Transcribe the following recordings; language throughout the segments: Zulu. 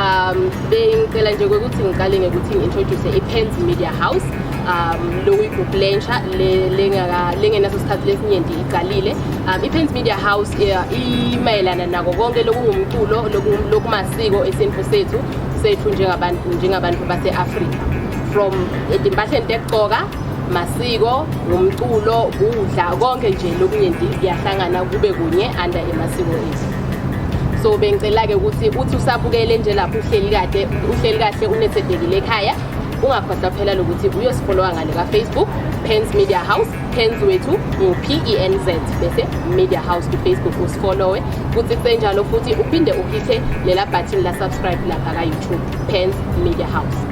um bengicela nje ukuthi ngiqale ngekuthi ngi-introduce i-pens media house um lokuyigroup lentsha lengenaso sikhathi lesinyenti iqalile um i-pens media house imayelana nako konke lokungumculo lokumasiko esintu sethu sethu njengabantu njengabantu base-afrika from ezimpahleni tekugqoka masiko ngumculo kudla konke nje lokuningi kuyahlangana kube kunye under emasiko ethu so bengicela-ke ukuthi uthi usabukele nje lapho uhleli kade uhleli kahle unethedekile ekhaya ungakhohlwa phela lokuthi uyosifolowa ngale kafacebook pens media house pens wethu ngu-penz bese media house kufacebook usifolowe futhi kusenjalo futhi uphinde uhithe lela bhathini la-subscribe lapha ka-youtube pens media house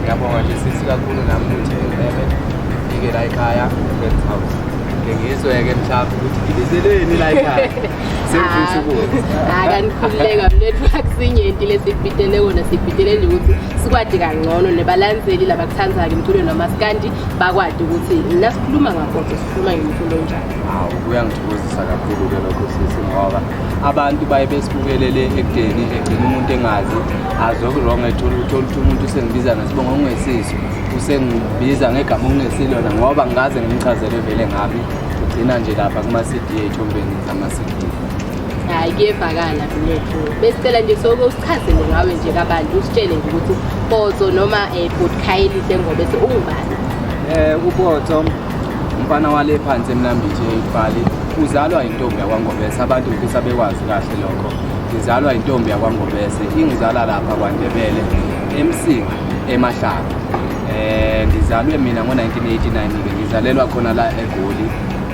ngiyabonga nje sisi kakhulu nami ukuthi ngibebe ngifike la ekhaya friends house ngengizwe-ke mhlawumbe ukuthi ngibizeleni la ekhaya sengifisa ukuza akanikhululeka mlethu akusinyenti lesibhidele kona sibhidele nje ukuthi sikwadi kangcono nebalandzeli labakuthandzayo emculweni wamasikandi bakwadi ukuthi nasikhuluma ngakoso sikhuluma ngemfundo njani hawu kuyangithokozisa kakhulu-ke lokho sisi ngoba abantu baye besibukelele ekudeni egcina umuntu engazi azwe kurong ethola ukuthi oluthi umuntu usengibiza ngesibongo okungesiso usengibiza ngegama okungesilona ngoba ngikaze ngimchazele vele ngami ugcina nje lapha kuma-cd ey'thombeni zama-cd hayi kuyevakala mnethu besicela nje soke usichazele ngawe nje kabantu usitshele nje ukuthi upoto noma um eh, botkhayelihle ngobese ungubani um eh, upoto umfana wale phansi emnambithi eyifali uzalwa intombi yakwangobese abantu ngifisa bekwazi kahle lokho ngizalwa intombi yakwangobese ingizala lapha kwandebele emsinga emahlanga eh ngizalwe mina ngo-1989 ke ngizalelwa khona la egoli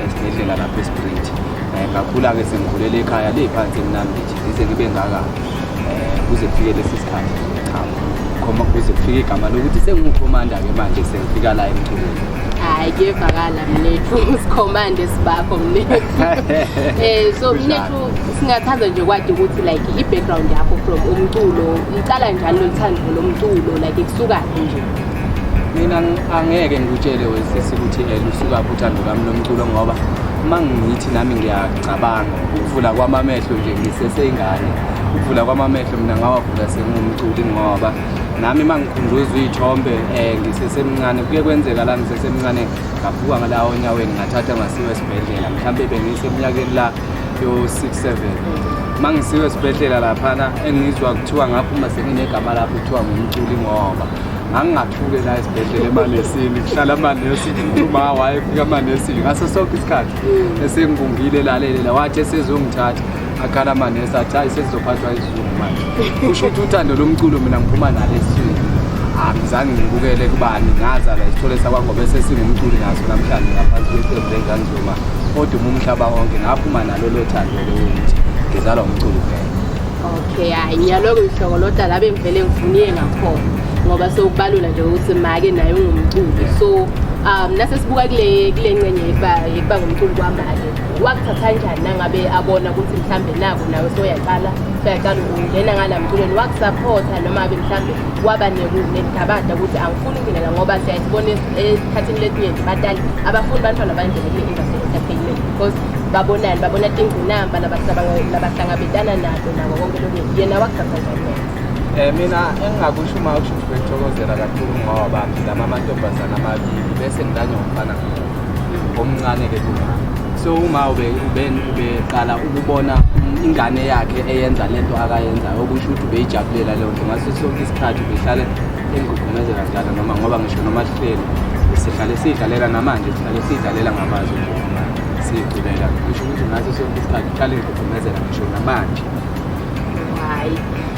esibhedlela lapha esprit eh, ngakhula-ke sengikhulele ekhaya leyiphansi emnambithi Ngize ngibe ngaka eh, kuze kufike lesi sikhathi ngikhamba khoma kuze kufike igama lokuthi sengiwukhomanda-ke manje sengifika la emculweni hayi kuyevakala mnethu sikhomande sibakho mnethu um so mnethu singathanda nje kwadi ukuthi like i-background yakho from umculo uqala njani loluthando lomculo like kusukaphi nje mina angeke ngikutshele wesisi ukuthi um eh, lusukaphi uthando lwami lomculo ngoba uma ngithi nami cabanga ukuvula kwami amehlo nje ngiseseyingane ukuvula kwami amehlo mina ngawavula sengumculi ngoba nami uma ngikhunjuzwa iy'thombe um ngisesemncane kuye kwenzeka la ngisesemncane ngaphuka ngalawo onyaweni ngathatha ngasiwa esibhedlela mhlawumbe bengisemnyakeni la yo-six seven uma ngisiwa esibhedlela laphana engizwa kuthiwa ngaphuma senginegama lapho kuthiwa ngumculi ngoba ngangingathuke la esibhedlela emanesini kuhlala amanesi uma wayefika amanesi ngaso sonke isikhathi esengibungile lalele la wathi esezongithatha akhala amanesi athi hayi sesizophathwa izulu manje kusho ukuthi uthando lomculo mina ngiphuma nalo esizweni angizange ngibukele kubani ngazala isithole sakwangoba esesingumculi naso namhlanje ngaphansi kweqembu lenzanzuma kodwa uma umhlaba wonke ngaphuma nalo lothando lokuthi ngizalwa umculo kuphela okay hayi ngiyaloke ngihlokoloda la bengivele ngifuniye ngakhona ngoba sewubalula nje ukuthi make naye ungumculi so um nasesibuka kule kule ncenye yekuba ngumculi kwamake wakuthatha njani nangabe abona ukuthi mhlawumbe nako nawe soyaqala soyaqala ungena ngala mculweni wakusaphotha noma abe mhlawumbe waba nekugabada ukuthi angifuni ukungenela ngoba siyayibona esikhathini lesinye nje batali abafuni bantwana banjele kule industry entertainment because babonani babona tingunamba labahlangabetana nabo nako konke lokunye yena wakugqabha njani um mina engingakusho uma kusho ukuthi bekuthokozela kakhulu ngoba bami lama amantombazane amabili bese ngilanye ngomfana omncane-ke kumama so uma ubeqala ukubona ingane yakhe eyenza le nto akayenzayo okusho ukuthi ubeyijabulela leyo nto ngaso sonke isikhathi ubehlale engigugumezela njalo noma ngoba ngisho noma sihleli sihlale siyidlalela namanje sihlale siyidlalela ngamazwi siyigcinela kusho ukuthi ngaso sonke isikhathi uhlale ngigqugqumezela ngisho namanje hayi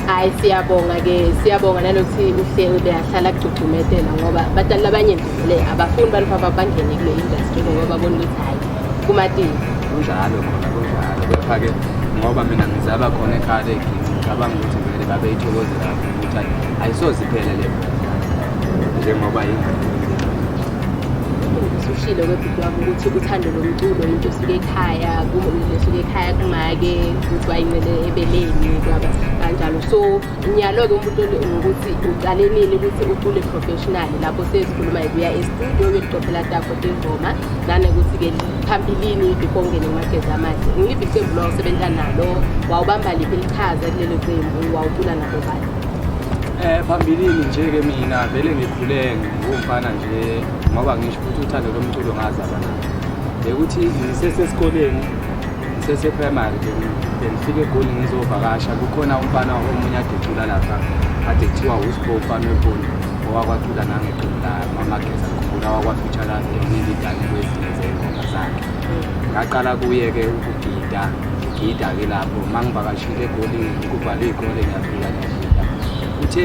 hayi siyabonga ke siyabonga nalokuthi uhle ubeyahlala kugcugcumetela ngoba batali abanye vele abafuni bantu baba bangene kule industry ngoba babona ukuthi hayi kumatini kunjalo khona kunjalo kepha-ke ngoba mina ngizaba khona ekhale ngicabanga ukuthi vele babeyithokozela ukuthi ayisoze iphele le njengoba yingane ushilo Ngiyabona ukuthi uthando lomculo into esuke ekhaya esuke ekhaya kumake ukuthi wayinqele ebeleni kwaba kanjalo so ngiyalo-ke umuntu ngokuthi uqale nini ukuthi ucule professional lapho sezikhuluma ikuya estudio uyoqophela takho tengoma nanokuthi-ke phambilini before ungene kumagezi amahle ngiliphi iqembu lwawusebenza nalo wawubamba liphi lichaza kulelo qembu wawucula nalo bani um phambilini nje-ke mina vele ngikhule ngingumfana nje ngoba ngisho ukuthi uthando lomculo ngazalwa nalo bekuthi ngisesesikoleni ngiseseprimary bengifike egoli ngizovakasha kukhona umfana omunye ade ecula lapha ade kuthiwa usbo umfana weboni owakwacula nangeqembu lamamageza ngikhumbula wakwafitshala ngineziganeko ezinye zey'ngoma zakhe ngaqala kuye-ke ukugida ngigida-ke lapho uma ngivakashile egoli kuvalwe iy'kole ngiyafika ngiyagida uthe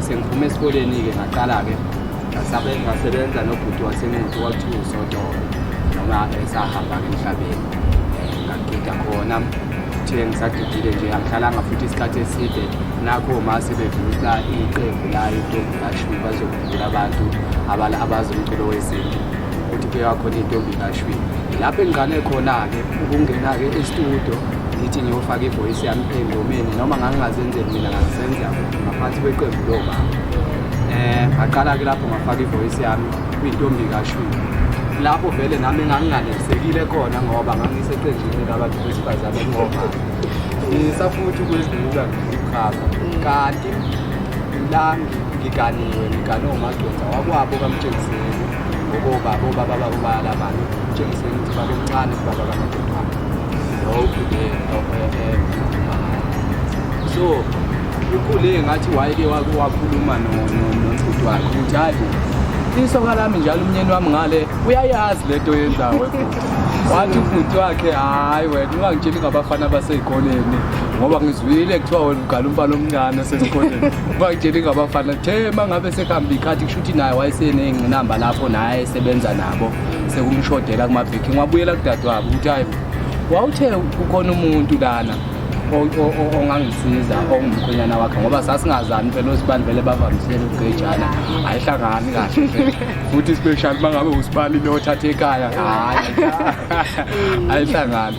sengiphume esikoleni-ke ngaqala-ke Sabe ngasebenza nobhuti wasemenzi kwakuthiwa usodolo noma esahamba-ke emhlabeni um ngagida khona ngithe ngisadidile nje angihlalanga futhi isikhathi eside nakho ma sebevusa iqembu la intombi kashwi bazokuvula abantu abazi umculo wesintu ukuthi kuyakhona intombi kashwi lapho engiqale khona-ke ukungena-ke estudio ngithi ngiyofaka ivoyisi yami engomeni noma ngangingazenzeli mina ngazisenzela ngaphansi kweqembu lobaba Eh ngaqala ke lapho ngafaka ivoice yami kwintombi kaShwini. Lapho vele nami nganginganesekile khona ngoba ngangiseqenjini labantu besifazane ngoba ngisafuthi ukwezibuka ngizikhava kanti la ngiganiwe ngigane umadoda wakwabo kamtshengiseni ngoba bobaba babo bayalabana umtshengiseni ukuthi babemncane kubaba kamadoda lowo ude so Ukhule ngathi wayeke wake wakhuluma nobhuti wakhe ukuthi hayi isoka lami njalo umnyeni wami ngale uyayazi le nto yenzawo wathi ubhuti wakhe hhayi wena ungangitsheli ngabafana abasey'koleni ngoba ngizwile kuthiwa wena ugala umfana omncane osesikoleni ungangitsheli ngabafana the ma ngabe sekuhambe ikhathi kusho ukuthi naye wayeseney'ngqinamba lapho naye esebenza nabo sekumshodela kumabhekhi ngiwabuyela kudadewabo ukuthi hhayi wawuthe kukhona umuntu lana ongangisiza ongumkhwenyana wakhe ngoba sasingazani phela osibani vele bavamisele ukugejana ayihlangani kahle futhi special uma ngabe usibani lothatha ekhaya hayi ayihlangani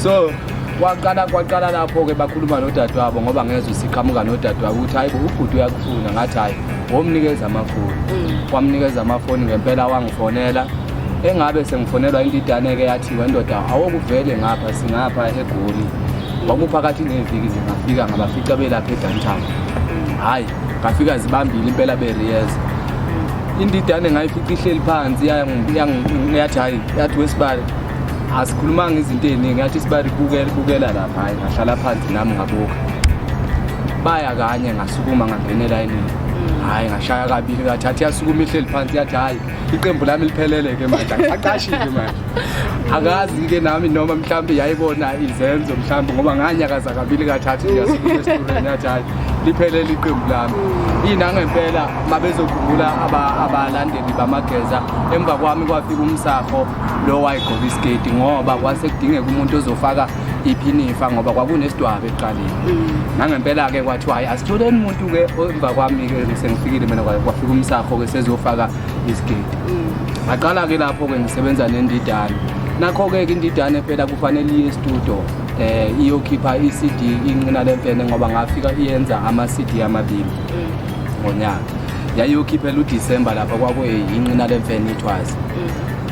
so kwaqala kwaqala lapho-ke bakhuluma nodadewabo ngoba ngezwe siqhamuka nodadewabo ukuthi hayi ubhuti uyakufuna ngathi hhayi womnikeza amafoni mm. wamnikeza amafoni ngempela wangifonela engabe sengifonelwa indidane-ke yathiwa indoda awokuvele ngapha singapha egoli kwakuphakathi neviki nje ngafika ngabafica belapha edantown hhayi ngafika zibambile impela beriyeza indidane ngayifica ihleli phansi yathi hhayi yathi wesibali asikhulumanga izinto ey'ningi yathi isibali bukela lapha hhayi ngahlala phansi nami ngabuka baya kanye ngasukuma ngangena elayinini hhayi ngashaya kabili ngathathi yasukuma ihleli phansi yathi hhayi iqembu lami liphelele ke manje aqashile manje akazi ke nami noma mhlawumbe yayibona izenzo mhlawumbe ngoba nganyakaza kabili kathathu ngiyasesturen yathi hayi liphelele iqembu lami inangempela mabezokhumbula abalandeli bamageza emva kwami kwafika umsafo lo wayigqoka isiketi ngoba kwase kudingeka umuntu ozofaka iphinifa ngoba kwakunesidwaba ekuqaleni mm. nangempela-ke kwathiwa hhayi asithole umuntu-ke emva kwami-ke sengifikile mina kwafika umsakho-ke sezofaka isigidi mm. ngaqala-ke lapho-ke ngisebenza nendidane nakho-ke ke indidane phela kufanele iye estudio um eh, iyokhipha i-cd incina le mpene ngoba ngafika iyenza ama-cd amabili mm. ngonyaka yayiyokhiphela udisemba lapha kwakuyincina le mfene ithwazi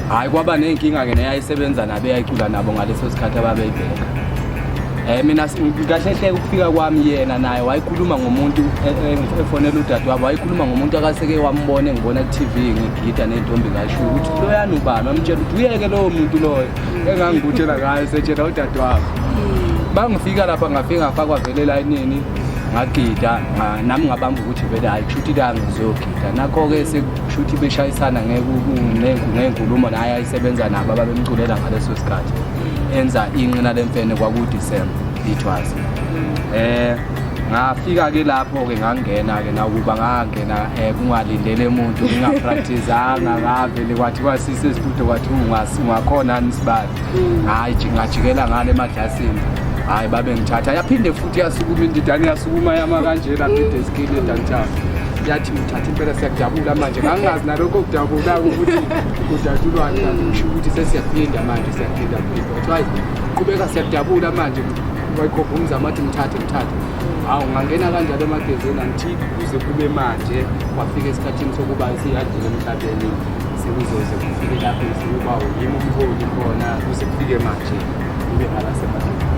hhayi kwaba ney'nkinga-ke neyayisebenza nabo eyayicula nabo ngaleso sikhathi ababeyibheka um eh, mina kahle hleke ukufika kwami yena naye wayikhuluma ngomuntu e, e, efonela udade wabo wayikhuluma ngomuntu akaseke wambona engibona ku-tv ngigida ney'ntombi ngasho ukuthi loyani ubani wamtshela ukuthi uyeke lowo muntu loyo engangikutshela ngayo setshela udade wabo bangifika lapha ngafike ngafakwa vele elayinini ngagida nami ngabamba ukuthi vele hayi kusho ukuthi la ngizogida nakho-ke shuthi beshayisana ngey'nkulumo naye ayisebenza nabo ababemculela ngaleso sikhathi enza inqina lemfene kwakudisemba ithwasa um eh, ngafika-ke lapho-ke ngangena-ke nakuba ngangena um eh, kungalindele muntu ngingapraktizanga ngavele kwathi kwasise esitudo kwathi ungakhona nisibali hayi ngajikela ngale emadlasini hayi babe ngithatha yaphinde futhi yasukuma indidane yasukuma yama kanjena phinde isikini edantayo yathi ngithatha impela siyajabula manje ngangingazi nalokho okudabula ukuthi kujatshulwani ngisho ukuthi sesiyaphinda manje siyaphinda phinda kuthiwa qhubeka siyajabula manje wayikhopha umzama athi ngithathe ngithathe hawu ngangena kanjalo emagezini angithi kuze kube manje kwafika esikhathini sokuba siyadlula emhlabeni sekuzoze kufike lapho ukuba yimi umholi khona kuze kufike manje kube ngala semadleni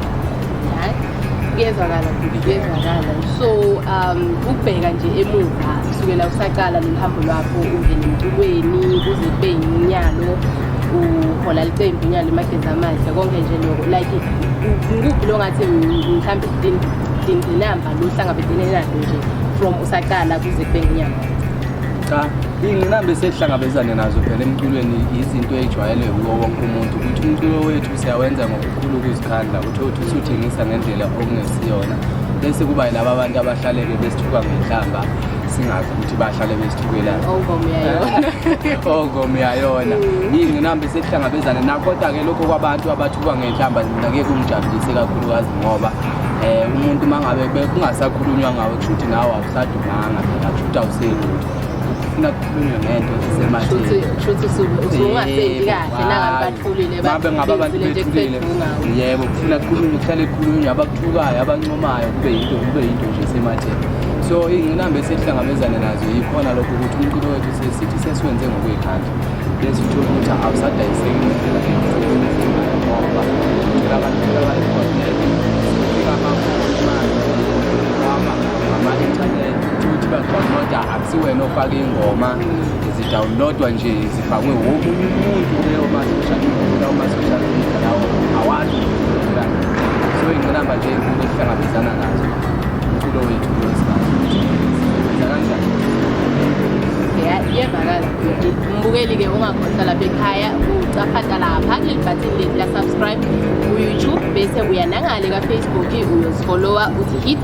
kuyezwakala futhi kuyezwakala so um ukubheka nje emuva kusukela usaqala lolu hambo lwakho ungena emculweni kuze kube yinyalo uhola licembu inyalo emagezi amahle konke nje loko like ngikuphi lo ngathi mhlawumbe dinqinamba lo hlangabedene nalo nje from usaqala kuze kube nginyanga cha iy'ngqinamba esihlangabezane nazo phela emculweni yizinto ey'jwayelwe kuwo wonke umuntu ukuthi umculo wethu siyawenza ngokukhulu ukuzikhandla ukuthi othi usuthengisa ngendlela okungesiyona bese kuba yilaba abantu abahlaleke besithuka ngenhlamba singazi ukuthi bahlale besithukelani ongom yayona yingqinamba esekuhlangabezane nakho kodwa-ke lokho kwabantu abathuka ngenhlamba mina ngeke kumjabulise kakhulukazi ngoba um umuntu uma ngabe kungasakhulunywa ngawo kusho ukuthi nawo sadumanga phela futhi awuselutho ufuna kukhulunywe ngento ezisematheni shuthi usungasendi kahle nangabe bathulile babe ngaba abantu bethulile yebo kufuna kukhulunywe kuhlale kukhulunywe abakuthukayo abancomayo kube yinto kube yinto nje esematheni so ingqinamba esihlangabezane nazo yikhona lokho ukuthi umculo wethu sesithi sesiwenze ngokuyikhandla bese uthole ukuthi awusadayiseki ngendlela ngoba uthola abantu ofaka ingoma zidawunlodwa nje zifakwe wonke umuntu leyo ma-social media lawo ma-social media lawo awazi so ingqinamba nje enkulu esihlangabezana nazo umculo wethu kulesikhathi sisebenza kanjani iyevakala mbukeli-ke ungakhohlwa lapha ekhaya ucafata lapha kuleli bhathini lethu la-subscribe ku-youtube bese uya nangale ka-facebook uyozifolowa uthi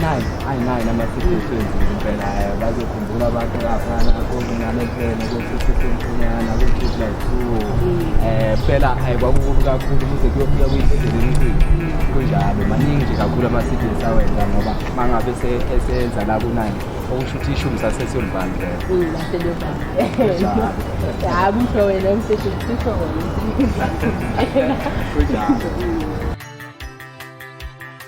nayi ayi nayi nama-situations impela eh, bazokhumbula abantu laphana kokunane phela kokusesemfunyana kokuthi like two um phela ayi kwakukubi kakhulu kuze kuyofika kuyintezeleninkulu kunjalo maningi nje kakhulu ama-cds awenza ngoba uma ngabe eseyenza la kunani okusho ukuthi ishumi sasesiyolibani vele hayi kusho wena umseshi kusho wena kunjalo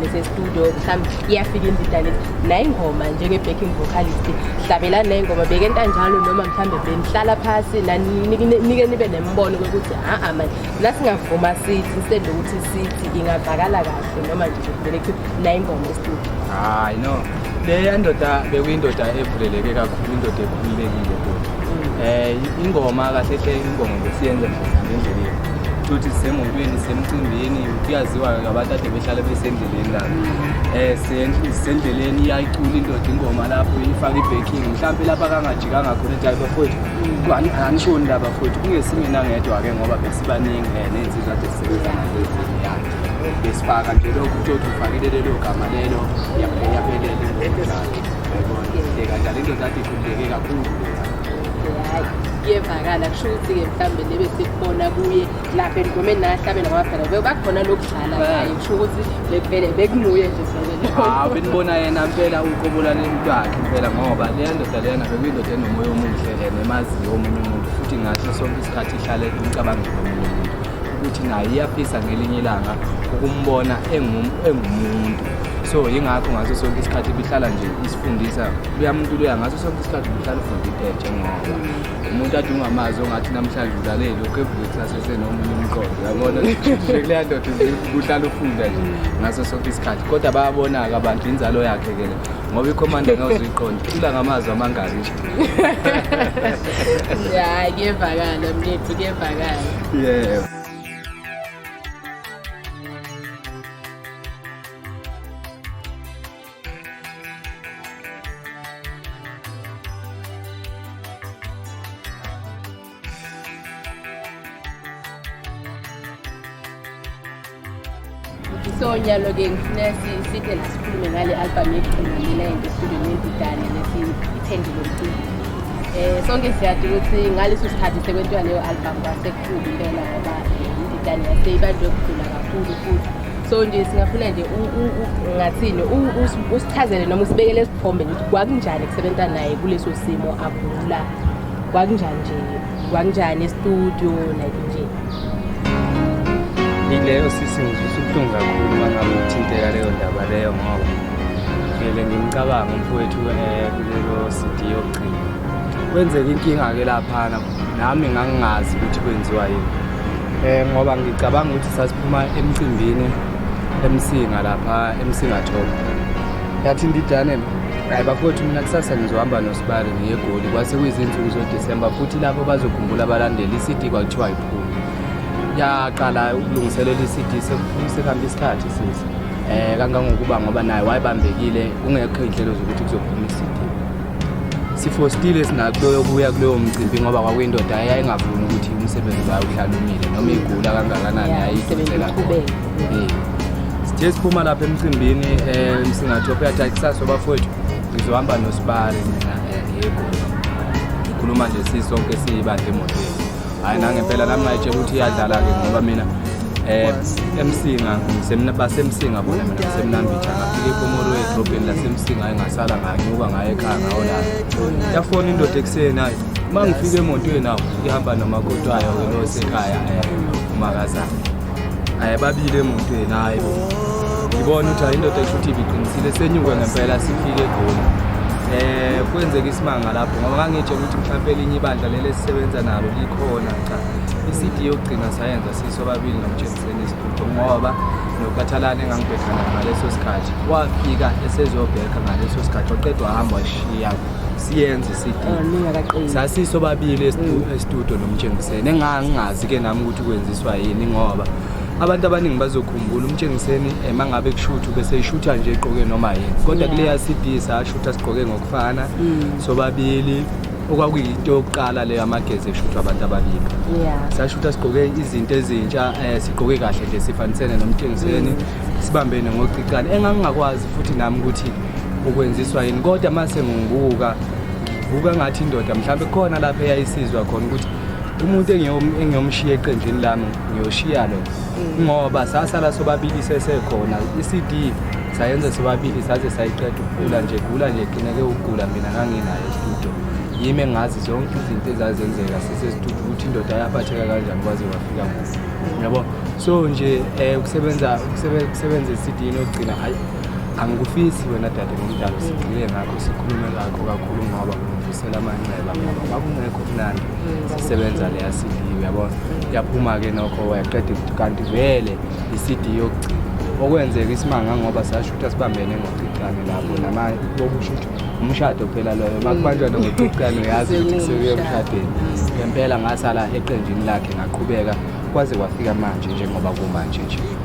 nesestudio mhlawumbe iyafika indidane nayingoma njenge-backing vocalist hlabelani nayingoma beke ntanjalo noma mhlawumbe benihlala phasi nike nibe nembono kokuthi a-a mani nasingavuma sithi instead yokuthi sithi ingavakala kahle noma nje kuvele kuthiwa nayingoma estudio hayi no leya ndoda bekuyindoda evuleleke kakhulu indoda ekhululekile kodwa um ingoma kahle hle ingoma ngesiyenza ngendlela yethu futhi sisemotweni sisemcimbini kuyaziwa ngabantu ade behlale besendleleni la um sisendleleni iyayicula indoda ingoma lapho ifake i-baking mhlawumpe lapho akangajikanga khona ethi hayi bafowethu angishoni la bafowethu kungesinye nangedwa-ke ngoba besibaningi um ney'nsizwa ade sisebenza nalezini ya besifaka nje lokhu uthi othi ufakile lelo gama lelo yaphelele kanjalo indoda ade ikhundleke kakhulu iyevakala kusho ukuthi-ke mhlawumbe nebe sikubona kuye la bengome nahlabela kwabhela bebakhona lokudlala ngaye kusho ukuthi bevele bekunguye nje hawu benibona yena mpela uqobola lento yakhe mpela ngoba leya ndoda leyana bekuyindoda enomoya omuhle lena emaziyo omunye umuntu futhi ngasho sonke isikhathi ihlale imcabangela omunye umuntu ukuthi naye iyafisa ngelinye ilanga ukumbona engumuntu so yingakho ngaso sonke isikhathi ibihlala nje isifundisa luya muntu luya ngaso sonke isikhathi ibihlala ufunda into entshe ngoba umuntu adunga amazi ongathi namhlanje ulalele lokhu evuke kusasese nomunye umqondo yabona kuleya ndoda kuhlala ufunda nje ngaso sonke isikhathi kodwa bayabona-ke abantu inzalo yakhe ke le ngoba ikhomanda ngawuzuyiqonda icula ngamazwi amangaki ya kuyevakala mnethu kuyevakala yeah so nyalo-ke ngifuna sithe la sikhulume ngale albhamu yekugcinanela into estudio nebhidane lesithende lomculo um eh, sonke siyadi ukuthi ngaleso sikhathi sekwentiwa leyo albhamu kwasekukhulu impela ngoba ibhidane yaseyibanjwe kugula kakhulu futhi so nje singafuna nje ngathini usichazele noma usibekele isithombe ukuthi kwakunjani kusebenza naye kuleso simo agula kwakunjani nje kwakunjani estudio like nje ileyo sisi ngizwisa ubuhlungu kakhulu uma ngabe uthinteka leyo ndaba leyo ngoba vele ngimcabanga umfowethu eh, kulelo cd yokugcina kwenzeka inkinga-ke laphana nami ngangingazi ukuthi kwenziwa yini eh ngoba ngicabanga ukuthi sasiphuma emcimbini emsinga lapha emsingathoko yathi ndidane hayi bafowethu mina kusasa ngizohamba nosibali ngiye egoli kwase kuyizinsuku zodisemba futhi lapho bazokhumbula abalandeli i-cd kwakuthiwa yiphuma yaqala ukulungiselela i-cd sekuhambe isikhathi sisi um kangangokuba ngoba naye wayebambekile kungekho iy'nhlelo zokuthi kuzophuma i-cd sifostile sinakuloyo kuya kuloyo mcimbi ngoba kwakuyindoda yayingavumi ukuthi umsebenzi wayo uhlala umile noma igula kangakanani yayidonsela sithe siphuma lapha emcimbini um singathi okuyathatha kusasa obafowethu ngizohamba nosibari mina um eh, yego ngikhuluma nje sisonke siyibandla emotweni hayi nangempela nami ngayitshela ukuthi iyadlala-ke ngoba mina eh emsinga semna basemsinga bona mina semnambitha ngafika ekomoro edrobheni lasemsinga hayi ngasala nganyuka ngaye ekhaya ngawo la yafona indoda ekuseni hayi uma ngifika emotweni awo ihamba nomakoti wayo ke losekhaya um eh, umakazana Hayi babili emotweni hayi bo. Ngibona ukuthi ayindoda esho ukuthi ibiqinisile senyuke ngempela sifike egoli. Eh kwenzeka isimanga lapho ngoba ngangitshe ukuthi mhlawumbe elinye ibandla leli esisebenza nalo likhona cha. I-CD yokugcina sayenza siso babili nomjenseni isiphupho ngoba nokhathalane engangibhekana ngaleso sikhathi wafika esezobheka ngaleso sikhathi waqeda wahamba washiya siyenze i-CD. Ningakaqini. Sasiso babili estudio nomjengiseni engangingazi ke nami ukuthi kwenza Swa yini ngoba abantu abaningi bazokhumbula umtshengiseni uma ngabe kushutha ubeseyishutha nje egqoke noma yini kodwa kuleya CD sashutha sigqoke ngokufana mm. sobabili okwakuyinto yokuqala leyo amagezi eshuthwa abantu ababili sashutha sigqoke izinto ezintsha um sigqoke kahle nje sifanisene nomtshengiseni mm. sibambene ngocicane engangingakwazi futhi nami ukuthi ukwenziswa yini kodwa uma sengibuka buka ngathi indoda mhlawumbe khona lapho eyayisizwa khona ukuthi umuntu engiyomshiya eqenjini lami ngiyoshiya lo mm. ngoba sasala sobabili sesekhona i-cd sayenza sobabili saze sayiqeda ukugula nje gula nje qineke ukugula mina nganginayo estudio yimi engazi zonke izinto ezazenzeka sisestudio ukuthi indoda yaphatheka kanjani kwaze wafika ngosi yabo so nje um kusebenza kusebenza esidini okugcina hayi Angikufisi wena dade ngomdalo sigxile ngakho sikhulume ngakho kakhulu ngoba ngivusela amanxeba ngoba kwakungekho mnandi sisebenza leya CD uyabona yaphuma-ke nokho wayaqeda kanti vele i-CD yokugcina okwenzeka isimanga ngoba sashutha sibambene ngoqixane lapho namanye bokushutha umshado phela loyo uma kubanjwa nokuqixane uyazi ukuthi kusekuye emshadweni ngempela ngasala eqenjini lakhe ngaqhubeka kwaze kwafika manje njengoba kumanje nje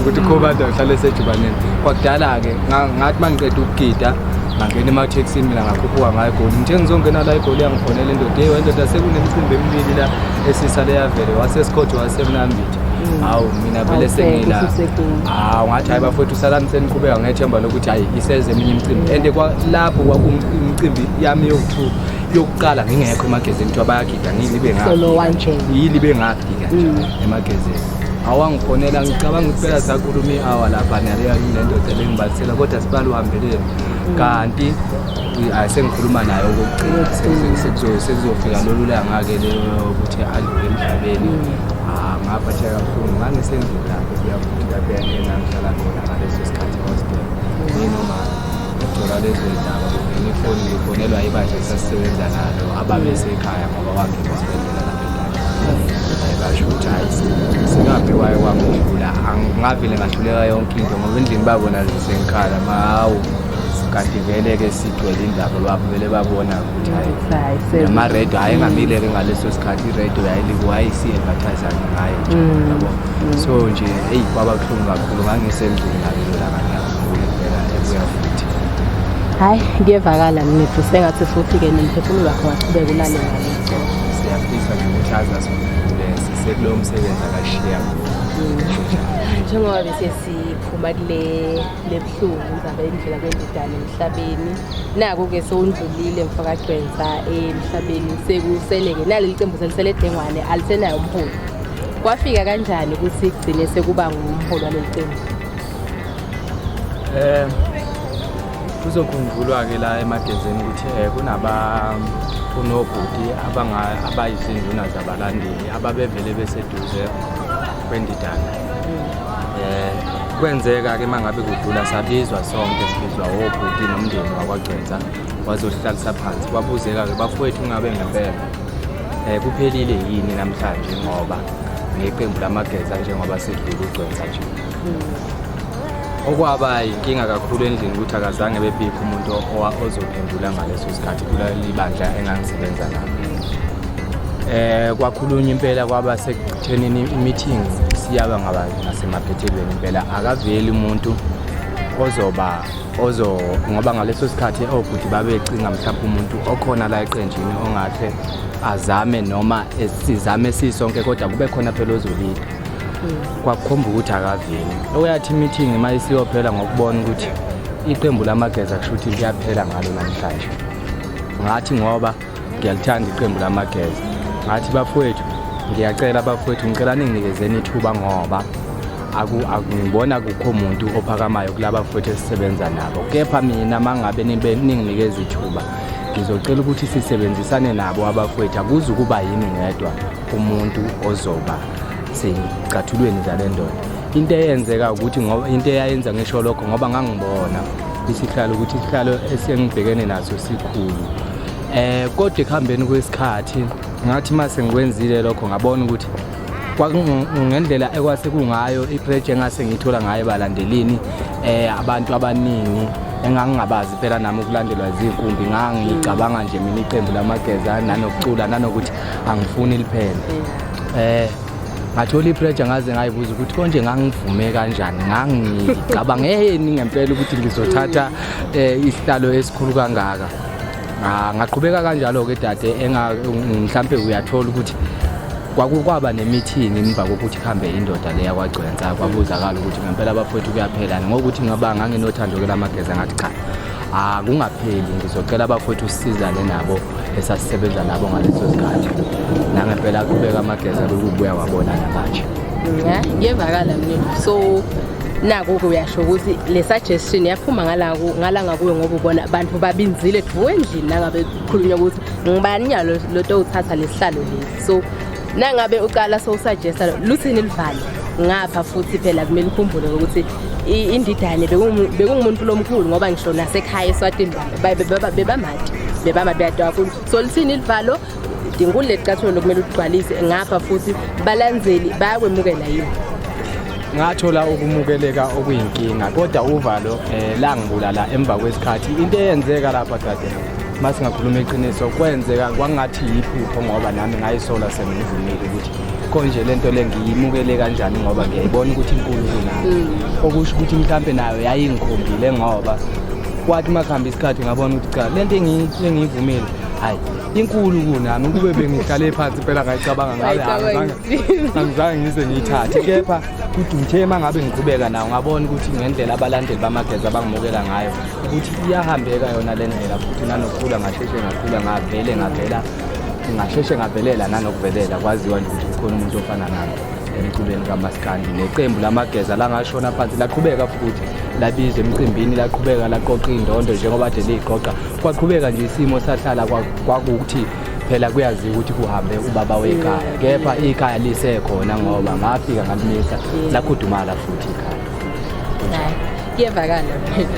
ukuthi ukhobanda uhlale esejubaneni kwakudala-ke ngathi uma ngiqeda ukugida ngangena emathekisini mina ngakhuphuka ngayo egoli ngithe ngizongena la egoli yangifonela indoda yeyi wendoda sekunemicimbi emibili la esisa leyavele wasesikhothi wasemnambithi mm. hawu mina vele sengila hawu ngathi hayi bafowethu salani seniqhubeka ngethemba lokuthi hayi iseze eminye imicimbi and lapho kwakuimicimbi yami yoku-two yokuqala ngingekho emagezini kuthiwa bayagida ngiyilibe ngakho yilibe ngakho mm. emagezini awangifonela ngicabanga ukuthi phela sakhuluma i-hour lapha naleya nendoda lengibalisela kodwa sibali uhambeleni kanti ayi sengikhuluma naye okokuqina sekuzofika lolu langa-ke lokuthi adlule emhlabeni ah, ngaphatheka kakhulu ngangisendlini lapho kuyakuthi lapho yangena ngihlala khona ngaleso sikhathi hostel nginoma ngithola lezo ndaba ngifoni ngifonelwa ibandla esasisebenza nalo ababesekhaya ngoba wangena esibhedlela basho ukuthi hayi singaphi waye kwamdlula angingavele ngahluleka yonke into ngoba endlini babona sengikhala mahawu kanti vele-ke sigcwele indaba lwabo vele babona ukuthi hayi namaredo hayi engamile-ke ngaleso sikhathi iredo yayisi-advertisani ngayo nje mm. yabo mm. so nje eyi kwaba buhlungu kakhulu ngangisendlini ngalelo laka ngiyakhumbula impela ebuya futhi hhayi kuyevakala mina futhi sengathi futhi-ke nomphefumulo wakho waqhubeka ulale ngalo siyafisa nje ukuthi aze asivule sisekulowo msebenzi akashiya njengoba bese siphuma kule lebuhlungu indaba yendlela kwendidane emhlabeni naku-ke sowundlulile mfakagcwensa emhlabeni sekusele-ke naleli cembu selisele edengwane alisenayo umholi kwafika kanjani ukuthi kugcine sekuba ngumholi waleli cembu um Kuzokhumbulwa-ke la emagezini ukuthi um kunaba kunobhuti abayizinduna zabalandeli ababevele beseduze kwendidana um kwenzeka-ke uma ngabe kudlula sabizwa sonke sibizwa wobhuti nomndeni wakwagcwensa wazosihlalisa phansi kwabuzeka-ke bafowethu ungabe ngempela um kuphelile yini namhlanje ngoba ngeqembu lamageza njengoba sidlula ugcwensa nje hmm. okwaba yinkinga kakhulu endlini ukuthi akazange bebikho umuntu ozophendula ngaleso sikhathi kuleli bandla engangisebenza nalo um kwakhulunywa impela kwaba sekuthenini i-meeting siyaba ngaba ngasemaphethelweni impela akaveli umuntu ozoba ozo ngoba ngaleso sikhathi obhuti babecinga mhlawumbe umuntu okhona la eqenjini ongahle azame noma sizame sisonke kodwa kube khona phela ozolida kwakukhomba ukuthi akaveli okuyathi imithingi uma isiyophela ngokubona ukuthi iqembu lamageza kusho ukuthi liyaphela ngalo namhlanje ngathi ngoba ngiyalithanda iqembu lamageza ngathi bafowethu ngiyacela bafowethu ngicela ninginikezeni ithuba ngoba akungibona kukho muntu ophakamayo kulaba futhi esisebenza nabo kepha mina mangabe ninginikeza ithuba ngizocela ukuthi sisebenzisane nabo abafowethu akuze ukuba yini ngedwa umuntu ozoba seyicathulweni zale ndoda into eyenzeka ukuthi ngoba into eyayenza ngisho lokho ngoba ngangibona isihlalo ukuthi isihlalo esengibhekene naso sikhulu eh kodwa ekuhambeni kwesikhathi ngathi uma sengikwenzile lokho ngabona ukuthi ngendlela ekwase kungayo ipreje engase ngiyithola ngayo balandelini eh abantu abaningi engangingabazi phela nami ukulandelwa izinkumbi ngangicabanga nje mina iqembu lamageza nanokucula nanokuthi angifuni liphele eh ngathola ipressure ngaze ngayibuza ukuthi konje ngangivume kanjani ngangicabangeni ngempela ukuthi ngizothatha eh, isihlalo esikhulu kangaka ah, ngaqhubeka kanjalo ke dade mhlampe uyathola ukuthi kwakukwaba nemithingi emva kokuthi kuhambe indoda le yakwagcwensa kwabuzakala ukuthi ngempela abafowethu kuyaphelana ngokuthi ngaba nganginothando ke lamageza ngathi cha akungapheli ngizocela abafowethu usizane nabo esasisebenza nabo ngaleso sikhathi nangempela aqhubeka amageza kukubuya wabona namanje ngiyevakala mina so naku-ke uyasho ukuthi le suggestion yaphuma ngalaku ngalanga kuyo ngoba ubona abantu babinzile dvu endlini nangabe kukhulunywa ukuthi ngibani nyalo loto uthatha lesihlalo lesi so nangabe uqala sowusuggesta luthini livale ngapha futhi phela kumele ukhumbule ukuthi indidane bekungumuntu lomkhulu ngoba ngisho nasekhaya eswatini bebamati bebama beyadwa kakhulu so lithini ilivalo dinkulu lecathulo lokumele uligcwalise ngapha futhi balandzeli bayakwemukela yini ngathola ukumukeleka okuyinkinga kodwa uvalo um eh, langibulala emva kwesikhathi into eyenzeka lapha dade uma singakhuluma iqiniso kwenzeka kwangathi yiphupho ngoba nami ngayisola sengivumile ukuthi konje le nto le ngiyimukele kanjani ngoba ngiyayibona ukuthi inkulu kunayo mm. okusho ukuthi mhlawumbe nayo yayingikhombile ngoba kwathi uma kuhamba isikhathi ngabona ukuthi cha le nto engiyivumile hayi inkulu kunami ukube bengihlale phansi impela ngayicabanga ngabe angizange ngize ngiyithathe kepha kuduthe uma ngabe ngiqhubeka nawo ngabona ukuthi ngendlela abalandeli bamageza abangimukela ngayo ukuthi iyahambeka yona le ndlela futhi nanokukhula ngasheshe ngakhula ngavele ngavela ngasheshe ngavelela nanokuvelela kwaziwa nje ukuthi kukhona umuntu ofana nami emculweni kamaskandi neqembu lamageza langashona phansi laqhubeka futhi labiza emcimbini laqhubeka laqoqa indondo njengoba de liyiqoqa kwaqhubeka nje isimo sahlala kwakukuthi phela kuyaziwa ukuthi kuhambe ubaba wekhaya kepha ikhaya lisekhona ngoba ngafika ngalimisa lakhudumala futhi ikhaya kuyevakala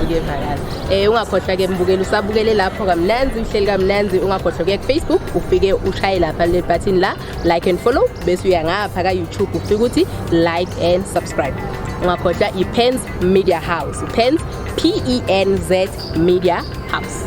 kuyevakala eh ungakhohlwa ke mbukeli usabukele lapho kamnanzi uhleli kamnanzi ungakhohlwa kuya kufacebook ufike ushaye lapha le button la like and follow bese uya ngapha ka youtube ufike ukuthi like and subscribe ungakhohlwa ipens media house ipens p e n z media house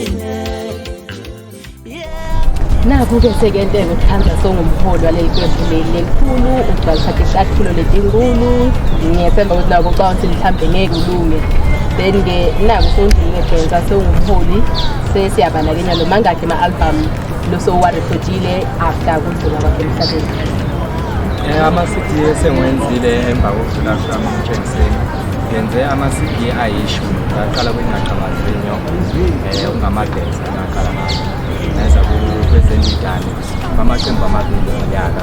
Naku-ke sekenteke ukuhlanza songumholi waleli qembu leli lelikhulu ukugcwalisa ihlahlulo letinkulu ngiyethemba ukuthi nako ucabanga ukuthi mhlawumbe ngeke ulunge then-ke naku sewundlulile bhensa sewungumholi sesiyabalakenya lo mangakhe ama-album losowuwarekhodile after kudlula kwakhe emhlabeni Eh, ama-cd esengiwenzile emva kokudlula kwami emtshengiseni ngenze ama-cd ayishumi ngaqala kwingaqabazile eh, okungamageza angaqala ngayo neza kwezendidane amaqembu amabili ngonyaka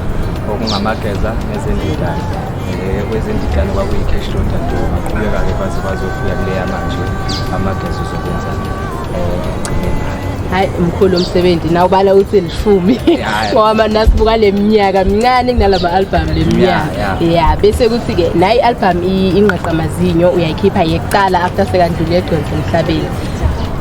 okungamageza nezendidane eh, kwezendidane kwakuyi-cash load and baqhubeka-ke baze bazofika kuleya manje amageza uzokwenza hayi mkhulu omsebenzi naw ubala uthi elishumi ngoba manje nasibuka le minyaka mincane kunalama-albhamu le minyaka ya bese kuthi-ke nayi i-albhamu ingqe uyayikhipha amazinyo uyayikhipha yekuqala after sekandlule egcwensa emhlabeni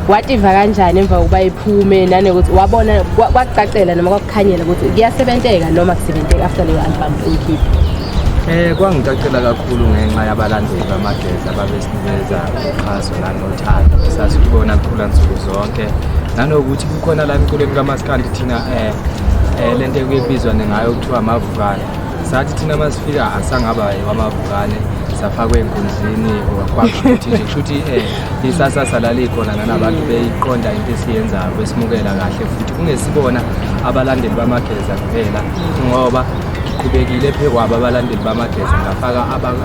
wativa kanjani emva kokuba iphume nanokuthi wabona kwakucacela noma kwakukhanyela ukuthi kuyasebenteka noma kusebenteka after leyo album uyikhipha Eh kwangicacela kakhulu ngenxa yabalandeli bamageza babesinikeza uxhaso nanothando sasibona kukhula nsuku zonke nanokuthi kukhona la emculweni kamaskandi thina eh eh lento ekuyibizwa ngayo kuthiwa amavukane sathi thina uma sifika asangaba wamavukane safakwa enkundleni kwakuthi nje kushuthi um eh, isasa salale khona nanabantu beyiqonda into esiyenzayo besimukela kahle futhi kungesibona abalandeli bamageza kuphela ngoba ngiqhubekile phe kwabo abalandeli bamageza ngafaka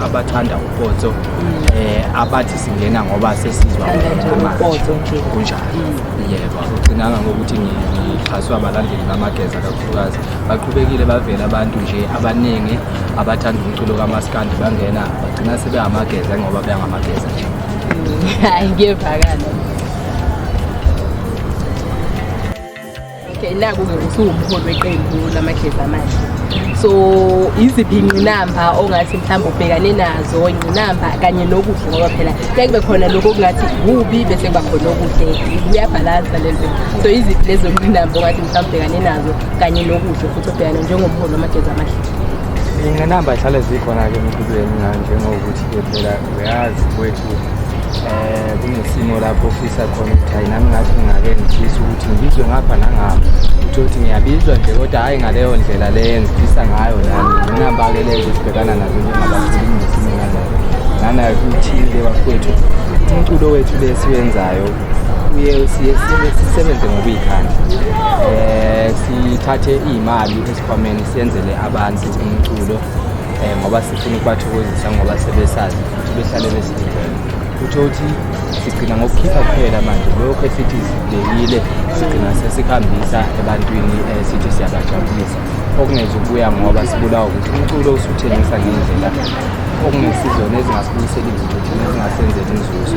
abathanda upotso um eh, abathi singena ngoba sesizwa kunjalo yebo akugcinanga ngokuthi ngixhaswe abalandeli bamageza kakhulukazi baqhubekile bavela abantu nje abaningi abathanda umculo kamaskandi bangena bagcina sebehamageza ngoba beyangamageza nje hayi ngiyevakala okay naku-ke usuwumholi weqembu lamageza manje so iziphi ingqinamba ongathi mhlawumbe ubhekane nazo ingqinamba kanye nokuhle ngoba phela kuye kube khona lokho okungathi kubi bese kuba khona okuhle kuyabhalansa lento so iziphi lezo ngqinamba ongathi abhekane nazo kanye nokuhle futhi obhekane njengomholi wamajezi amahle iy'ngqinamba zihlale zikhona-ke empilweni njengokuthi-ke phela uyazi kwethu eh kunesimo lapho ofisa khona ukuthi hayi nami ngathi ngingake ngifisa ukuthi ngibizwe ngapha nangapha uthe ukuthi ngiyabizwa nje kodwa hhayi ngaleyo ndlela le engifisa ngayo nami nginambake leyo zesibhekana nazo njengabaculi kunesimo nanayo nanayo kuthile bafowethu umculo wethu le siwenzayo kuye siye sisebenze ngokuyikhandla eh sithathe imali esikhwameni siyenzele abantu umculo eh ngoba sifuna ukubathokozisa ngoba sebesazi futhi behlale besididele utho uthi sigcina ngokukhipha kuphela manje lokho esithi sibekile sigcina sesikhambisa ebantwini eh, sithi siyabajabulisa okungenza ukubuya ngoba sibulawa ukuthi umculo usuthengisa ngendlela okungesizona ezingasibuyiseli izithuthi nezingasenzeli inzuzo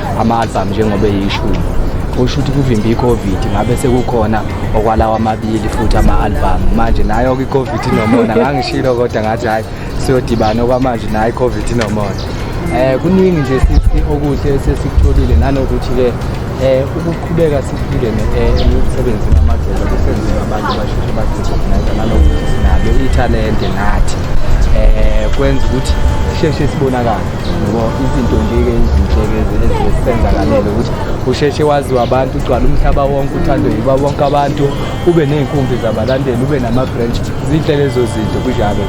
ama-album njengoba eyishumi kusho ukuthi kuvimba i-covid ngabe sekukhona okwalawa amabili futhi ama-album manje nayo-ke i-covid inomona ngangishilo kodwa ngathi hhayi siyodibana okwamanje nayo i-covid inomona um eh, kuningi nje sithi okuhle esesikutholile nanokuthi-ke eh ukuqhubeka siphile eh, emsebenzini wamagcelo kusenzeka abantu basheshe bazirecognize nalokuthi sinalo ithalente nathi eh kwenza ukuthi sheshe sibonakale ngoba izinto nje-ke ezinhleke ezisenzakalele ukuthi usheshe waziwa abantu ugcwala umhlaba wonke uthandwe yiba bonke abantu ube ney'nkumbi zabalandeli ube nama-branch zinhle lezo zinto kunjalo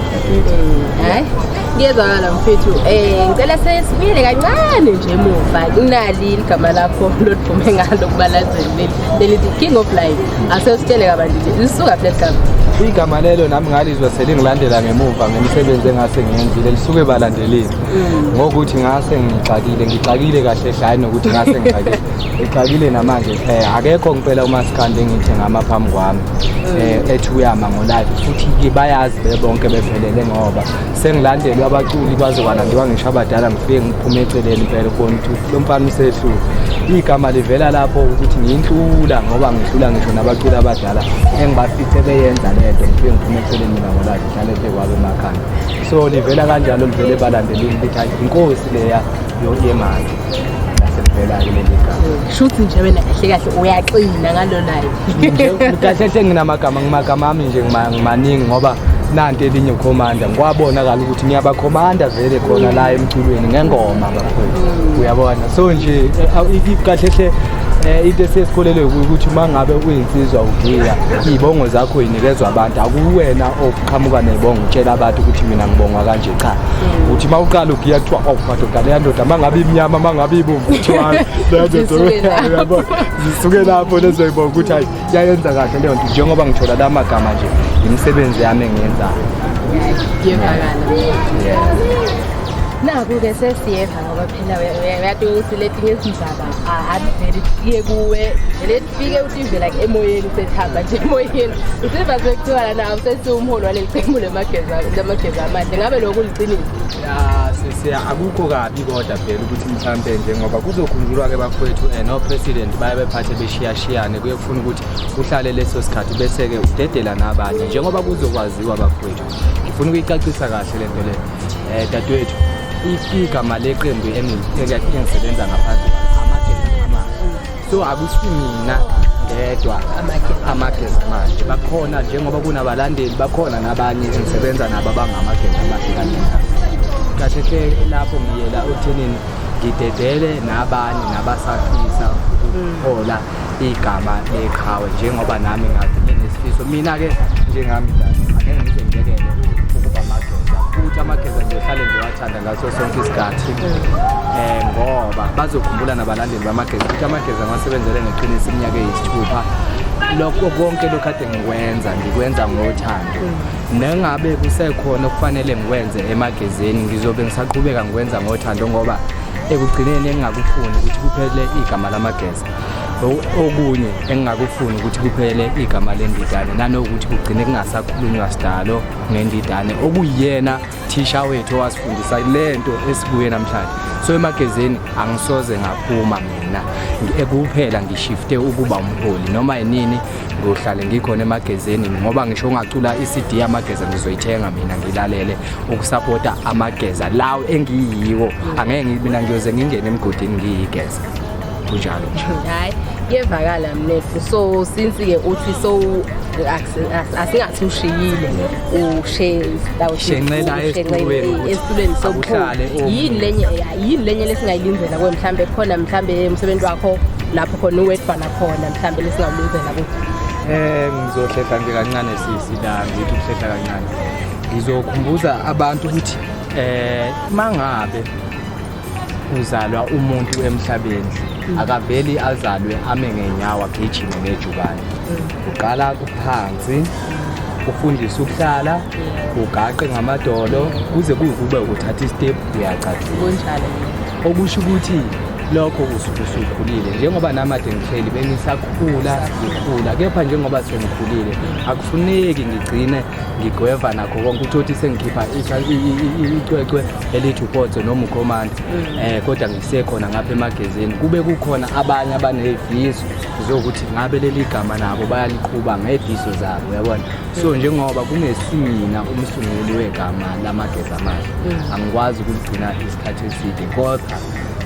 hayi kuyezwakala mfethu um ngicela sesibuyele kancane nje muva kunali ligama lakho lodiphume ngalo kubalazeli lelithi king of life asesitshele kabantu nje lisuka phi leligama igama lelo nami ngalizwa selingilandela ngemuva ngemisebenzi engase ngiyenzile lisuke balandela Elini mm. ngokuthi ngase ngixakile ngixakile kahle hle hayi nokuthi ngase ngixakile ngixakile namanje eh akekho ngempela umaskandi engithe ngama phambi kwami mm. eh ethi uyama ngo live futhi ke bayazi bebonke bephelele ngoba sengilandelwe abaculi kwaze kwalandiwa ngisho abadala ngifike ngiphume eceleni impela ukubona ukuthi lo mfana usehlule igama livela lapho ukuthi ngiyihlula ngoba ngihlula ngisho nabaculi abadala engibafice beyenza lento ngifike ngiphume eceleni mina ngo live ngihlale phe kwabe emakhanda so livela kanjalo livele balandelile ukuthi hayi inkosi leya yemali nasevelayo leli gama shuthi nje wena kahle kahle uyaxina ngalo nayo kahle hle nginamagama ngimagama ami nje ngimaningi ngoba nanti elinye ukhomanda ngikwabona kala ukuthi niyabakhomanda vele khona la emculweni ngengoma bafowethu mm. uyabona so nje eh, kahle hle eh into esisikholelwe ukuthi uma ngabe uyinsizwa ugiya ibongo zakho yinikezwa abantu akuwena of qhamuka nebonga utshela abantu ukuthi mina ngibongwa kanje cha mm. uthi uma uqala ugiya kuthiwa awu oh, madoda leya ndoda uma ngabe imnyama uma ngabe ibomvu kuthiwa leya ndoda zisuke lapho lezoyibonga ukuthi hayi yayenza kahle leyo nto njengoba ngithola la magama nje imisebenzi yami engiyenzayo yevakala naku-ke sesiyeva ngoba phela uyati ukuthi letinye izindaba avele iye kuwe fike utive like emoyeni usethamba nje emoyeni usiva sekuthiwa lana awusesiwumholi waleli qembu lamageza amahle ngabe lokho kuliqiniso ya sisiya akukho kabi kodwa phela ukuthi mhlampe nje ngoba kuzokhunjulwa-ke bakwethu um eh, nopresident baye bephathe beshiyashiyane kuye kufuna ukuthi uhlale leso sikhathi bese-ke udedela nabanye njengoba kuzokwaziwa bakwethu ngifuna ukuyicacisa kahle le nto le um eh, dadewethu igama leqembu engisebenza ngaphansi amageza amahle so akusimina ngedwa amageza manje bakhona njengoba kunabalandeli bakhona nabanye engisebenza nabo abangamageza amahle kanye kahle hle lapho ngiyela othenini ngidedele nabanye nabasafisa ukuthola igama leqhawe njengoba nami ngathi nginesifiso mina-ke njengami angeke ngize ngibekele ukuba mageza futhi amageza ngiyohlale ngiwathanda ngaso sonke isikhathi um ngoba bazokhumbula nabalandeli amageza futhi amageza ngiwasebenzele ngeqiniso iminyaka eyisithupha lokho konke lokhu kade ngikwenza ngikwenza ngothando nengabe kusekhona okufanele ngikwenze emagezeni ngizobe ngisaqhubeka ngikwenza ngothando ngoba ekugcineni engingakufuni ukuthi kuphele igama lamageza okunye engingakufuni ukuthi kuphele igama lendidane nanokuthi kugcine kungasakhulunywa sidalo ngendidane okuyiyena thisha wethu owasifundisa le nto esibuye namhlanje so emagezeni angisoze ngaphuma mina ekuphela ngishifte ukuba umholi noma yinini ngiyohlale ngikhona emagezeni ngoba ngisho ungacula i-cd yamageza ngizoyithenga mina ngilalele ukusapota amageza lawo engiyiwo angeke mina ngiyoze ngingene emgodini ngiyigeza kunjalo nje hayi kuyevakala mnethu so since-ke uthi so asingathi ushiyile ushenxela esitulweni sobuhlale yini lenye yini lenye lesingayilindela kuwe mhlawumbe khona mhlawumbe umsebenzi wakho lapho khona uwedwana khona mhlawumbe lesingawulindela kuwe um ngizohlehla nje kancane sisi la ngithi ukuhlehla kancane ngizokhumbuza abantu ukuthi um mangabe uzalwa umuntu emhlabeni akaveli azalwe ame ngenyawo agijime ngejubane uqala kuphansi ufundise ukuhlala ugaqe ngamadolo kuze kuyikube uthatha istep uyacathuka okusho ukuthi lokho usuke usukhulile njengoba namade ngihleli bengisakhula ngikhula kepha njengoba sengikhulile akufuneki ngigcine ngigweva nakho konke uthoti sengikhipha icwecwe elithi uPotso noma uCommand mm. eh kodwa ngisekhona ngapha emagezini kube kukhona abanye abanezifiso zokuthi ngabe leli gama nabo bayaliqhuba ngezifiso zabo yabona so mm. njengoba kungesimina umsunguli wegama lamageza amahle mm. angikwazi ukugcina isikhathi eside kodwa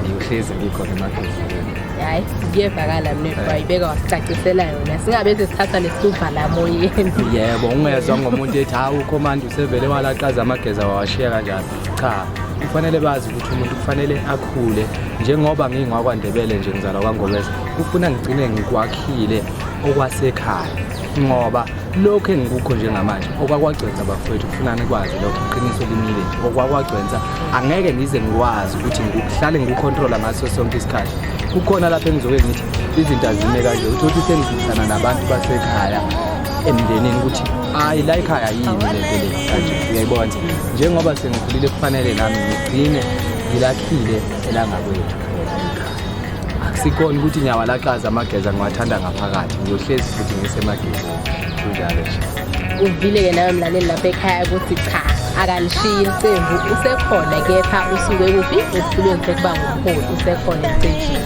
ngiyohlezi ngikhona emagezini hayi kuyevakala mina eh. wayibeka wasicacisela yona singabe sesithatha nesisuva la moyeni yebo ungezwa ngomuntu ethi hawu ukhomanda usevele walaqaza amageza wawashiya kanjani cha kufanele bazi ukuthi umuntu kufanele akhule njengoba ngingwakwandebele nje ngizalwa kwangobeza kufuna ngigcine ngikwakhile okwasekhaya ngoba lokhu engikukho njengamanje okwakwagcwensa bafowethu kufuna nikwazi lokho iqiniso limile nje okwakwagcwensa angeke ngize ngikwazi ukuthi ngihlale ngikukhontrola ngaso sonke isikhathi kukhona lapho engizoke ngithi izinto azime kanje uthi uthi sengidlulana nabantu basekhaya emndenini ukuthi hayi la ekhaya yini le nto le kanje uyayibona njengoba sengikhulile kufanele nami ngigcine ngilakhile elangakwethu akusikona ukuthi ngiyawalaxaza amageza ngiwathanda ngaphakathi ngiyohlezi futhi ngisemagezini kunjalo nje uvile-ke nawe mlaleli lapha ekhaya ukuthi cha akalishiyi iqembu usekhona kepha usuke kuphi esihlulweni sokuba ngumholi usekhona emsejini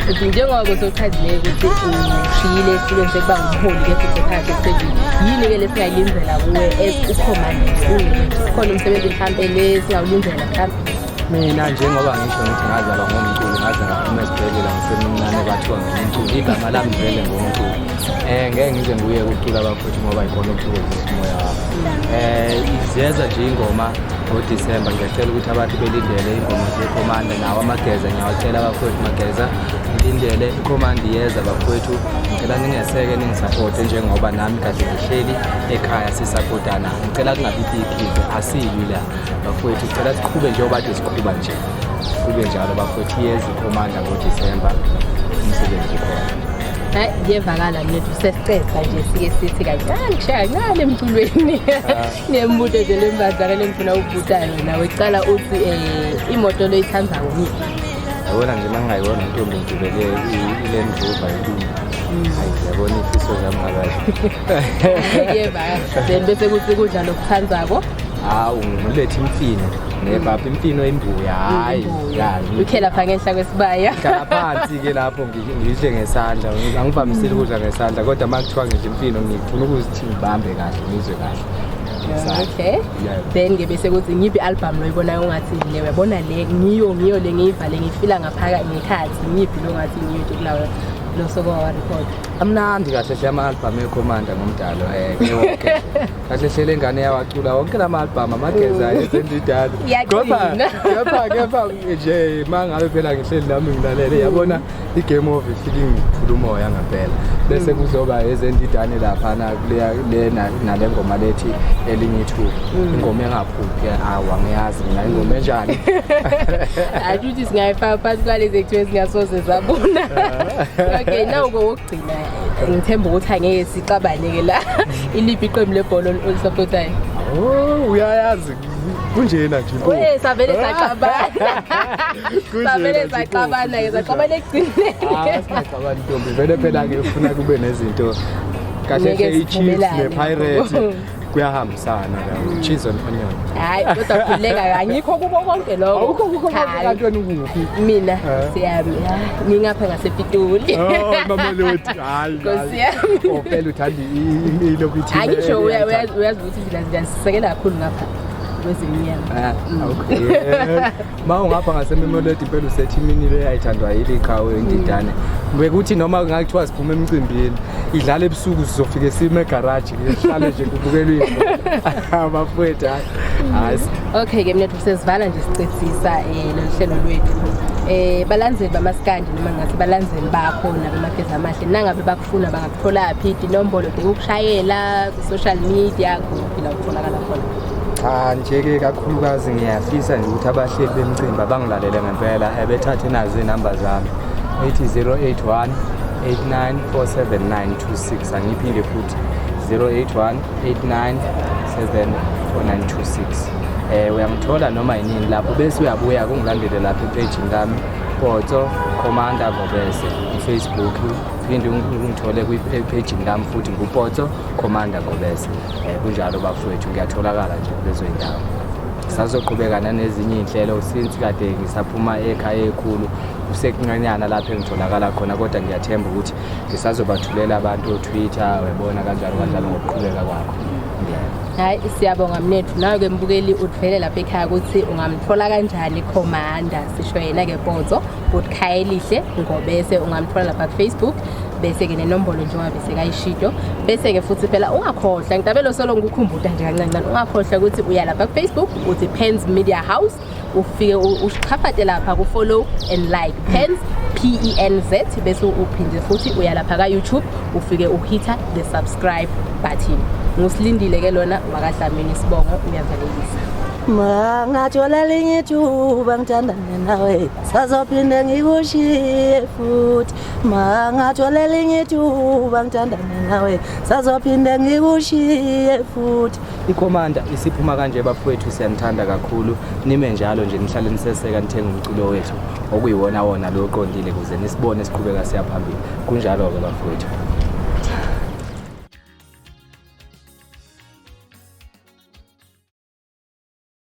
ukuthi njengoba kusochazile ukuthi ushiyile esihlulweni sokuba ngumholi kepha usekhaya emsejini yini-ke lesingayilindela kuwe ukhomandile khona umsebenzi mhlawumpe le singawulindela mina njengoba ngisho ngithi ngazalwa ngomculo ngaze ngaphuma esibhedlela ngisemncane kwathiwa ngumculo igama lami vele ngomculo um eh, ngeke ngize nguye kucula bafowethu ngoba yikhona okuthokozisa umoya wami um eh, izeza nje ingoma ngodisemba ngiyacela ukuthi abantu belindele ingoma zekhomanda nawo amageza ngiyawacela bafowethu mageza ngilindele ikhomanda iyeza bafowethu ngicela ningeseke ningisapote njengoba nami kade ngihleli ekhaya sisapotana ngicela kungabi bikhize asilwi la bafowethu sicela siqhube njengoba kade siqhuba nje kube njalo bafowethu iyeza ikhomanda ngodisemba umsebenzi ukhona hayi kuyevakala mnethu sesiceqa nje sike sithi kancane kushaya kancane emculweni nemibuto nje lembazana lengifuna ukubuta yona wecala uthi um imoto loyithanda ngomiphi yabona nje mangingayibona intombi ngigibele ile mvuva ilunga yabona ifiso zami ngakahle yebaa then bese kuthi kudla lokuthandako hawu ngilethe imfino nebaba imfino imbuya hayi ya ukhe lapha ngenhla kwesibaya ngikhala phansi ke lapho ngi- ngidle ngesandla Ngi- angivamisile ukudla ngesandla kodwa uma kuthiwa ngidla imfino ngifuna ukuthi ngibambe kahle ngizwe kahle ngesandla. okay Yeah. then ke bese kuthi ngiphi album lo ibonayo ungathi le uyabona le ngiyo ngiyo le ngiyivale ngifila ngaphaka ngekhathi ngiphi lo ngathi ngiyo nje kulawo lo sokowa record amnandi kahle hle ama-albhamu ekhomanda ngomdalo um kahle hle le ngane yawacula wonke la ma-albhamu amageza mm. esendidala kepha kepha nje ma ngabe phela ngihleli nami ngilalele yabona i-game of silingiphula umoya ngampela bese mm. kuzoba ezendidane laphana nale ngoma lethi elingithuba mm. ingoma engaphuphi awa ngiyazi mina ingoma enjani akuthi singayifaka phasi kwalezi ekuthiwa ezingasoze zabona okay nawu kowokugcina ngithemba ukuthi angeke sixabane-ke la iliphi iqembu lebhola olisapotayo oh, uyayazi kunjena nje eh, savele ah. saxabana savele saxabana ke saxabana ekugcineni ntombi vele phela-ke ufuna kube nezinto kahle hle i-chiefs ne-pirate kuyahambisana ke cheese and onion hayi kodwa khululeka angikho kubo konke lokho awukho kubo konke kanti wena ukuphi mina eh. siyami ngingapha ngasepitoli oh mamelodi hayi ngosiyami ophela oh, uthanda impilo kuthi hayi ngisho uyazi ukuthi thina siyasekela kakhulu ngapha kwezinyama ah, mm. okay ma ungapha ngasememoledi impela usethi imini le yayithandwa yili qhawe indidane bekuthi noma kungathiwa siphume emcimbini idlala ebusuku sizofike sime egaraji sihlale nje kubukelwe abafowethu hayi okay ke mina sesivala nje sicethisa um eh, loluhlelo lwethu eh balandzeli bamaskandi noma ngathi balandzeli bakho nabemageza amahle nangabe bakufuna bangakutholaphi inombolo de ukushayela ku-social media kuphi la kutholakala khona cha nje-ke kakhulukazi ngiyafisa nje ukuthi abahleli bemcimbi abangilalele ngempela ebethathe eh, nazo iy'namba zami ethi 081 894796 angiphinde futhi 081 897496 eh uyangithola noma yinini lapho bese uyabuya kungilandele lapha epejini lami Potso Commander Ngobese Facebook phinde ungithole kwi-page lami futhi ngupotso commander ngobese um kunjalo bafowethu ngiyatholakala nje kulezo y'ndawo sazoqhubeka nanezinye iy'nhlelo since kade ngisaphuma ekhaya ekhulu kusekuncanyana lapho engitholakala khona kodwa ngiyathemba ukuthi ngisazobathulela abantu otwitter webona kanjalo kanjalo ngokuqhubeka kwakho hayi siyabonga mnethu nawe-ke mbukeli uthwele lapha ekhaya ukuthi ungamthola kanjani ikhomanda sisho yena-ke bozo Good Khayelihle Ngobese ungamthola lapha Facebook bese ke nenombolo njengoba bese kayishido bese ke futhi phela ungakhohlwa ngitabelo solo ngikukhumbuta nje kancancane ungakhohlwa ukuthi uya lapha ku Facebook uthi Pens Media House ufike usichafate lapha ku follow and like Pens P E N Z bese uphinde futhi uya lapha ka YouTube ufike uhitha the subscribe button ngusilindile ke lona wakadlamini sibongo uyavalelisa mangathola linye thuba ngithanda nawe sazophinde ngikushiye futhi mangathola elinye ithuba ngithandane nawe sazophinde ngikushiye futhi ikhomanda isiphuma kanje bafowethu siyanithanda kakhulu nime njalo nje nihlale niseseka nithenga umculo wethu okuyiwona wona lo oqondile kuze nisibone siqhubeka siya phambili kunjalo-ke bafowethu